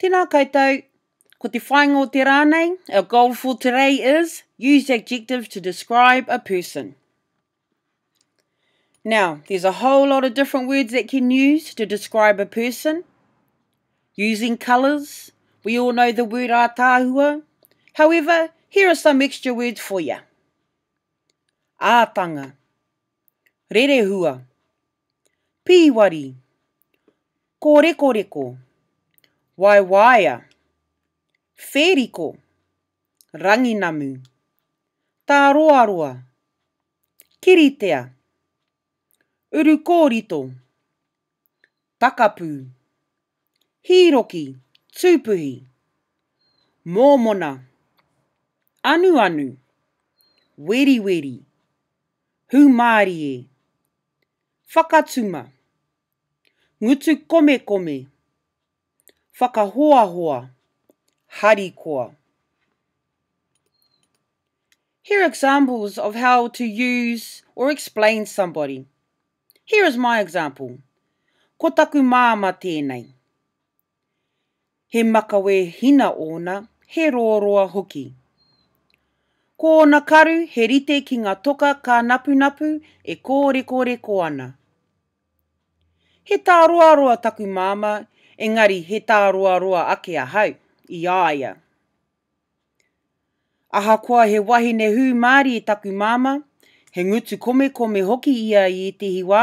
Tēnā koutou, ko te whāinga o te rā nei, our goal for today is, use adjectives to describe a person. Now, there's a whole lot of different words that can use to describe a person. Using colours, we all know the word ātāhua. However, here are some extra words for you. Ātanga, rerehua, pīwari, kōrekoreko, waewaea, whēriko, ranginamu, tāroaroa, kiritea, urukōrito, takapū, hīroki, tūpuhi, mōmona, anuanu, weriweri, Hūmārie. Whakatuma. Ngutu komekome. Whakahoahoa. Harikoa. Here are examples of how to use or explain somebody. Here is my example. Ko taku māmā tēnei. He makawe hina ōna, he rōroa hoki. Ko ōna karu he rite ki ngā toka kānapunapu e kōrekoreko ana. He tāroaroa taku māmā, engari he tāroaroa ake ahau, i a ia. Ahakoa he wahine hūmārie taku māmā, he ngutu komekome hoki ia i ētehi wā,